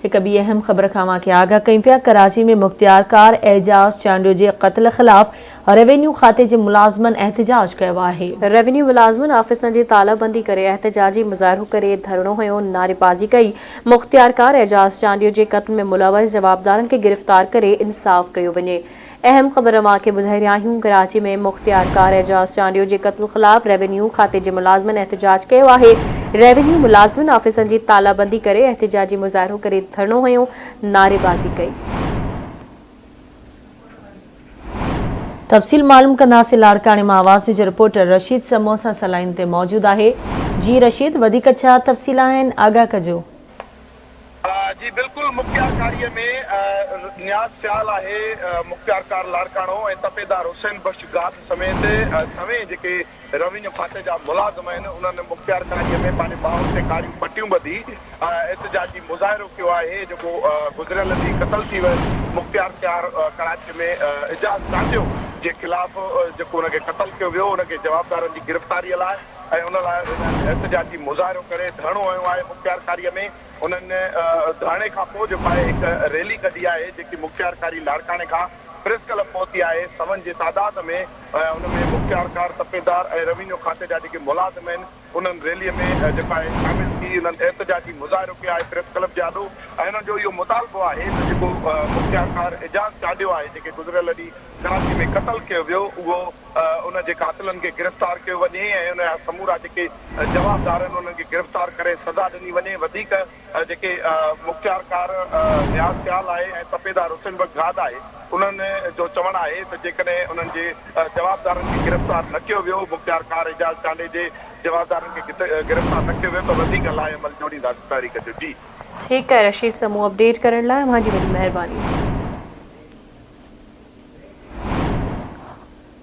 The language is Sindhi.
هڪ ٻي اهم خبر کان اوهان کي آگاهه ڪيون پيا، ڪراچي ۾ مختيارڪار اعجاز چانڊيو جي قتل خلاف روينيو کاتي جي ملازمن احتجاج ڪيو آهي. روينيو ملازمن آفيسن جي تالا بندي ڪري احتجاجي مظاهرو ڪري ڌرڻو هنيو، نعريبازي ڪئي، مختيارڪار اعجاز چانڊيو جي قتل ۾ ملوث جوابدارن کي گرفتار ڪري انصاف ڪيو وڃي، اهم خبر اوهان کي ٻڌائي رهيا آهيون ڪراچي ۾ مختيارڪار اعجاز چانڊيو جي قتل خلاف روينيو کاتي جي ملازمن احتجاج ڪيو آهي روينيو ملازمن آفيسن جي تالا بندي ڪري احتجاجي مظاهرو ڪري ڌرڻو هنيو نعريبازي ڪئي. تفصيل معلوم ڪنداسين لاڙڪاڻي مان آواز جو رپورٽر رشيد سمون سان سان لائين تي موجود آهي جي رشيد وڌيڪ ڇا تفصيل آهن آگاهه ڪجو. جي بلڪل مختيار ڪاريء ۾ نياز سيال آهي، مختيار ڪار لاڙڪاڻو ۽ تپيدار حسين بخش گاڌ سميت سوين جيڪي روينيو کاتي جا ملازم آهن انهن مختيار ڪاريء ۾ پنهنجي ٻانهن تي ڪاريون پٽيون ٻڌي احتجاجي مظاهرو ڪيو آهي جيڪو گذريل ڏينهن قتل ٿي ويل مختيار سيار ڪراچي ۾ اعجاز ٽانڊيو جي خلاف جيڪو ان کي قتل ڪيو ويو ان کي جوابدارن جي گرفتاري لاء ۽ ان لاء هنن احتجاجي مظاهرو ڪري ڌرڻو هنيو آهي مختيار ڪاري ۾ هنن ڌرڻي کان پوء جيڪو آهي هڪ ريلي ڪڍي آهي جيڪي مختيار ڪاري لاڙڪاڻي کان پريس ڪلب پهتي آهي سون جي تعداد ۾ ان ۾ مختيار ڪار سپيدار ۽ روينيو کاتي جا جيڪي ملازم آهن انهن ريلي ۾ جيڪو آهي شامل ٿي انهن احتجاجي مظاهرو ڪيو آهي پريس ڪلب جي آڏو ۽ انهن جو اهو مطالبو آهي ته جيڪو مختيار ڪار اعجاز چاڍيو آهي جيڪي گذريل ڏينهن ڪراچي ۾ قتل ڪيو ويو اهو ان جي قاتلن کي گرفتار ڪيو وڃي ۽ ان جا سمورا جيڪي جوابدار آهن انهن کي گرفتار ڪري سزا ڏني وڃي وڌيڪ جيڪي مختيار ڪار نياز سيال آهي ۽ تپيدار حسين بخش گاد آهي انهن جو چوڻ آهي ته جيڪڏهن انهن جي جوابدارن کي گرفتار نه ڪيو ويو مختيار ڪار اعجاز چانڊئي جي جوابدارن کي گرفتار نه ڪيو ويو ته وڌيڪ لاء عمل جوڙينداسين تحريڪ جو جي. ٺيڪ آهي رشيد صاحب مون اپڊيٽ ڪرڻ لاء اوهان جي وڏي مهرباني.